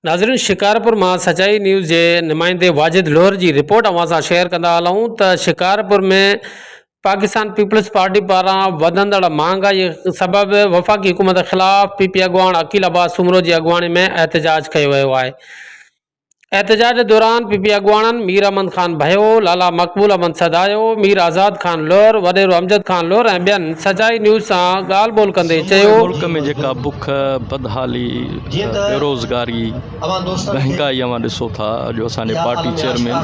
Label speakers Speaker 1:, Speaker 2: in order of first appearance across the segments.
Speaker 1: ناظرين شڪارپور مان سچائي نيوز جي نمائندي واجد لوهر جي رپورٽ اوهان سان شيئر ڪندا هلون ته شڪارپور ۾ پاڪستان پيپلز پارٽي پاران وڌندڙ مهانگائي سبب وفاقي حڪومت خلاف پي پي اڳواڻ عقيل عباس سومرو جي اڳواڻي ۾ احتجاج ڪيو ويو آهي احتجاج دوران پ پ اڳواڻن مير احمد خان ڀيو، لالا مقبول احمد سدايو، مير آزاد خان لعر، وڏيرو امجد خان لعر ۽ ٻين سچائي نيوز سان ڳالهه ٻولهه ڪندي چيو. ملڪ ۾ جيڪا بک،
Speaker 2: بدحالي، بيروزگاري، ڏهڪائي اوهان ڏسو ٿا جو اسان جي پارٽي چيئرمين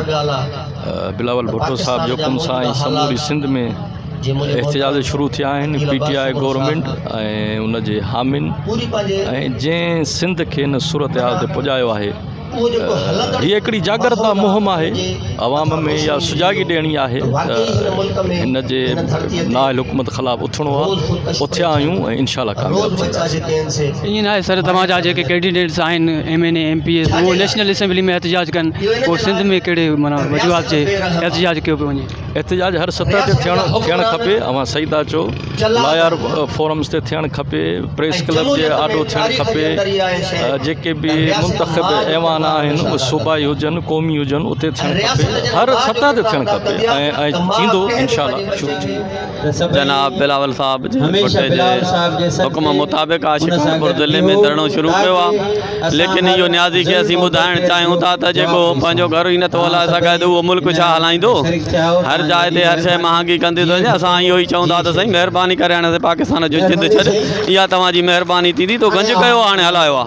Speaker 2: بلاول ڀٽو صاحب جي حڪم سان ۽ سموري سنڌ ۾ احتجاج شروع ٿيا آهن پي ٽي آء گورنمينٽ ۽ ان جي حامين ۽ جنهن سنڌ کي ان صورتحال تي پڄايو آهي هي هڪڙي جاڳرتا مهم آهي عوام ۾ اها سجاڳي ڏيڻي آهي ته هن جي نااهل حڪومت خلاف اٿڻو آهي اٿيا آهيون ۽ انشاء الله ڪامياب ٿينداسين ائين ناهي سر توهان
Speaker 3: جا جيڪي ڪينڊيڊيٽس آهن M N A M P A اهو نيشنل اسيمبلي ۾ احتجاج ڪن پوء سنڌ ۾ ڪهڙي معنيٰ وجوهات جي احتجاج ڪيو پيو وڃي احتجاج هر سطح
Speaker 2: تي ٿيڻ کپي اوهان صحيح ٿا چئو لايار فورمز تي ٿيڻ کپي پريس ڪلب جي آڏو ٿيڻ کپي جيڪي به منتخب ايوان آهن اهي صوبائي هجن قومي هجن اتي ٿيڻ کپي هر سطح تي ٿيڻ کپي ۽ ٿيندو انشاء الله جناب بلاول
Speaker 4: صاحب جي ڀٽي جي حڪم مطابق آء شڪارپور ضلعي ۾ ڌرڻو شروع ڪيو آ ليڪن اهو نيازي کي اسين ٻڌائڻ چاهيون ٿا ته جيڪو پنهنجو گهر ئي نٿو هلائي سگهي ته اهو ملڪ ڇا هلائيندو هر جاء تي هر شيء مهانگي ڪندي ٿو وڃي اسان اهو ئي چئون ٿا ته سائين مهرباني ڪري هاڻي اسين پاڪستان جو جد ڇڏ اها توهان جي مهرباني ٿيندي تو گنج ڪيو آ هاڻي هلايو آ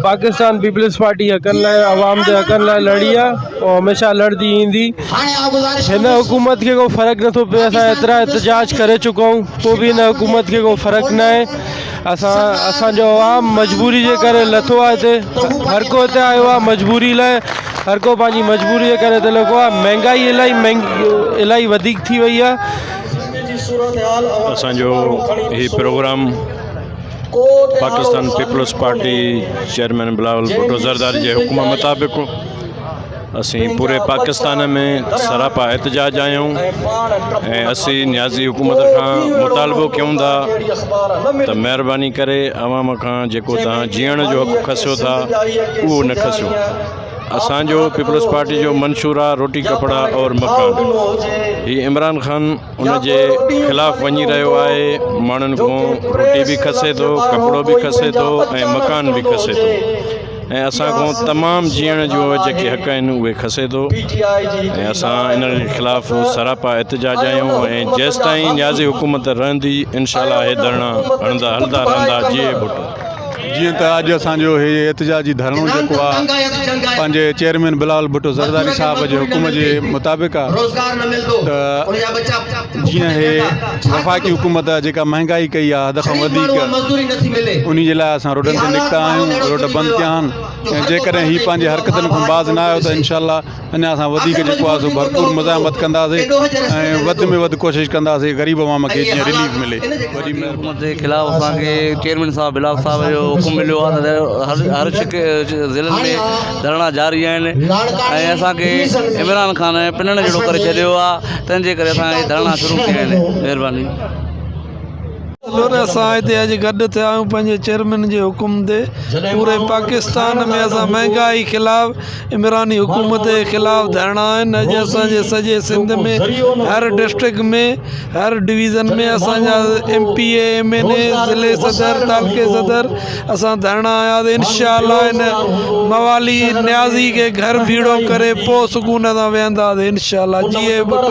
Speaker 5: پاڪستان پيپلز پارٽي حقن لاء عوام جي حقن لاء لڙي آ هو هميشه لڙندي ايندي هن حڪومت کي ڪو فرق نٿو پئي اسان ايترا احتجاج ڪري چڪائون پوء به هن حڪومت کي ڪو فرق ناهي اسان اسان جو عوام مجبوري جي ڪري لٿو آهي هتي هر ڪو هتي آيو آهي مجبوري لاء هر ڪو پنهنجي مجبوري جي ڪري هتي لڳو آهي مهنگائي الاهي مهنگي الاهي وڌيڪ ٿي وئي آهي اسان
Speaker 6: جو هي program Pakistan peoples party chairman Bilawal Bhutto Zardari جي حڪم مطابق اسين پوري پاڪستان ۾ سراپا احتجاج آهيون ۽ اسين نيازي حڪومت کان مطالبو ڪيون ٿا ته مهرباني ڪري عوام کان جيڪو توهان جيئڻ جو حق کسيو ٿا اهو نه کسيو اسان جو پيپلز پارٽي جو منشور آ روٽي ڪپڙا اور مڪان هي عمران خان ان جي خلاف وڃي رهيو آهي ماڻهن کون روٽي به کسي ٿو ڪپڙو به کسي ٿو ۽ مڪان به کسي ٿو ۽ اسان کان تمام جيئڻ جو جيڪي حق آهن اهي کسي ٿو ۽ اسان ان خلاف سراپا احتجاج آهيون ۽ جيستائين نيازي حڪومت رهندي انشاءالله اهي ڌرڻا هڻندا هلدا رهندا جيئي ڀٽو جيئن ته اڄ
Speaker 7: اسان جو هي احتجاجي ڌرڻو جيڪو آ پنهنجي چيئرمين بلاول ڀٽو زرداري صاحب جي حڪم جي مطابق آ ته جيئن هي وفاقي حڪومت جيڪا مهنگائي ڪئي آهي حد کان وڌيڪ انهي جي لاء اسان روڊن تي نڪتا آهيون روڊ بند ڪيا آهن ۽ جيڪڏهن هي پنهنجي حرڪتن کان باز نه آيو ته انشاء الله اڃا اسان وڌيڪ جيڪو آهي سو ڀرپور مزاحمت ڪنداسي ۽ وڌ ۾ وڌ ڪوشش ڪنداسي غريب عوام کي جيئن رليف ملي وڏي مهرباني جي خلاف
Speaker 4: اسان کي چيئرمين صاحب بلاول صاحب جو حڪم مليو آهي ته هر هر شڪ ضلعن ۾ ڌرڻا جاري آهن ۽ اسان کي عمران خان پنڻ جهڙو ڪري ڇڏيو آهي تنهن جي ڪري اسان هي ڌرڻا شروع ڪيا آهن مهرباني. هلو ته
Speaker 8: اسان هتي اڄ گڏ ٿيا آهيون پنهنجي چيئرمين جي حڪم تي پوري پاڪستان ۾ اسان مهنگائي خلاف عمراني حڪومت جي خلاف ڌرڻا آهن اڄ اسان جي سڄي سنڌ ۾ هر ڊسٽرڪٽ ۾ هر ڊويزن ۾ اسان جا M P A M N A ضلعي صدر تعلقي صدر اسان ڌرڻا هنيا ته انشاء الله هن موالي نيازي کي گهر ڀيڙو ڪري پوء سڪون سان ويهنداسين انشاء الله جيئي ٻٽو